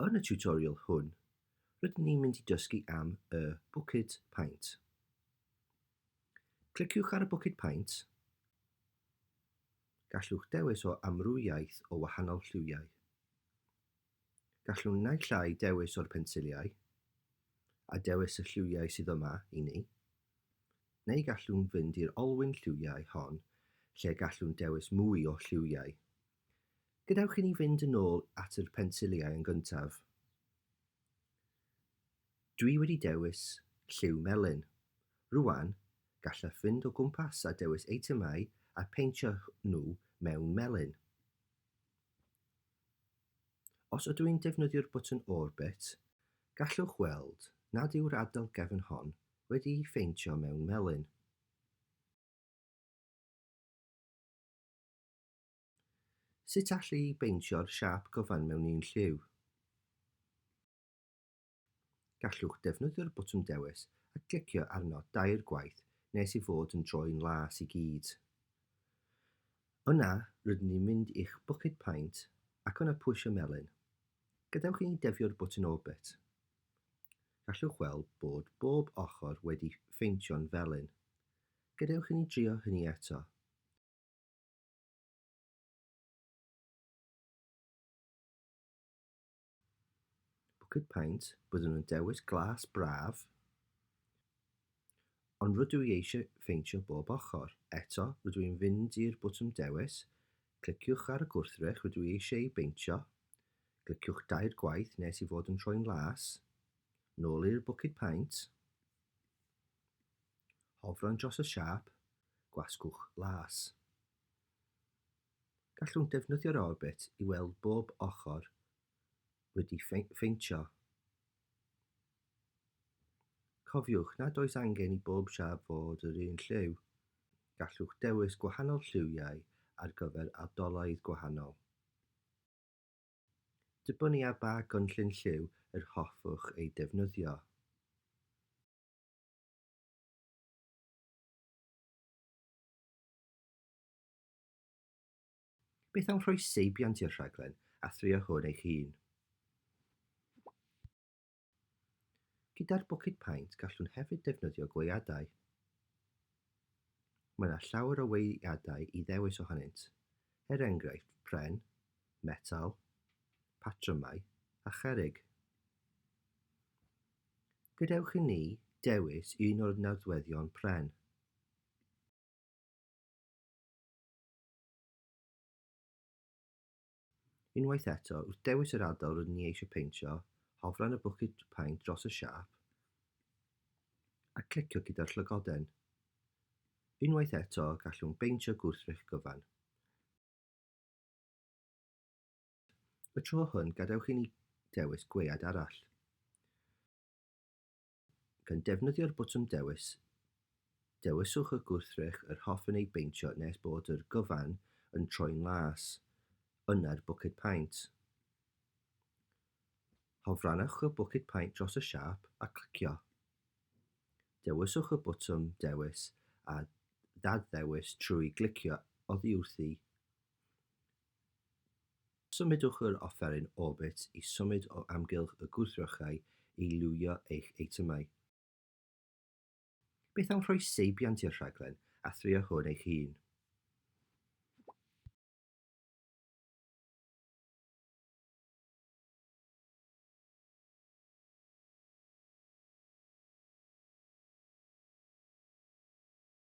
Yn y tutorial hwn, rydyn ni'n mynd i dysgu am y buced paent. Cliciwch ar y buced paent. Gallwch dewis o amrywiaeth o wahanol lliwiau. Gallwn naill ai dewis o'r pensiliau, a dewis y lliwiau sydd yma i ni, neu gallwn fynd i'r olwyn lliwiau hon lle gallwn dewis mwy o lliwiau. Gadewch i ni fynd yn ôl at yr pensiliau yn gyntaf. Dwi wedi dewis lliw melyn. Rwan, gallaf fynd o gwmpas a dewis eitemau a pheintio nhw mewn melyn. Os ydw i'n defnyddio'r bwtwn Orbit, gallwch weld nad yw'r adl gefn hon wedi'i pheintio mewn melyn. Sut alli i beintio'r siâp gyfan mewn un lliw? Gallwch ddefnyddio'r botwm dewis a glicio arno dair gwaith nes ei fod yn droi'n las i gyd. Yna, rydyn ni'n mynd i'ch bwced paent ac yna pwysio melyn. Gadewch i ni defio'r botwm Orbit. Gallwch weld bod bob ochr wedi pheintio'n felyn. Gadewch i ni drio hynny eto. Bwced paent, byddwn yn dewis glas braf, ond rydw i eisiau pheintio bob ochr. Eto, rydw i'n fynd i'r botwm dewis, cliciwch ar y gwrthrych rydw i eisiau ei beintio, cliciwch dair gwaith nes i fod yn troi'n las, nôl i'r bwced paent, hofran dros y siâp, gwasgwch las. Gallwn ddefnyddio'r orbit i weld bob ochr wedi pheintio. Cofiwch nad oes angen i bob siâp fod yr un lliw. Gallwch dewis gwahanol lliwiau ar gyfer ardaloedd gwahanol. Dibynnu ar ba gynllun lliw yr hoffwch ei defnyddio. Beth am rhoi seibiant i'r rhaglen a thrio hwn eich hun? Gyda'r bwced paent gallwn hefyd defnyddio gweadau. Mae yna llawer o weadau i ddewis ohonynt, er enghraifft pren, metal, patrymau a cherrig. Gadewch i ni dewis un o'r nodweddion pren. Unwaith eto, wrth dewis yr ardal rydyn ni eisiau peintio, hofra yn y bwced paent dros y siâp a clicio gyda'r llygoden. Unwaith eto, gallwn beintio gwrthrych gyfan. Y tro hwn, gadewch i ni dewis gwead arall. Gan defnyddio'r botwm Dewis, dewiswch y gwrthrych yr hoffwn ei beintio nes bod yr gyfan yn troi'n las, yna'r bwced paent. Hofrannwch y bwced paent dros y siâp a clicio. Dewiswch y botwm Dewis a Ddad-ddewis trwy glicio oddiwrthi. Symudwch yr offeryn Orbit i symud o amgylch y gwrthrychau i liwio eich eitemau. Beth am rhoi seibiant i'r rhaglen a thrio hwn eich hun?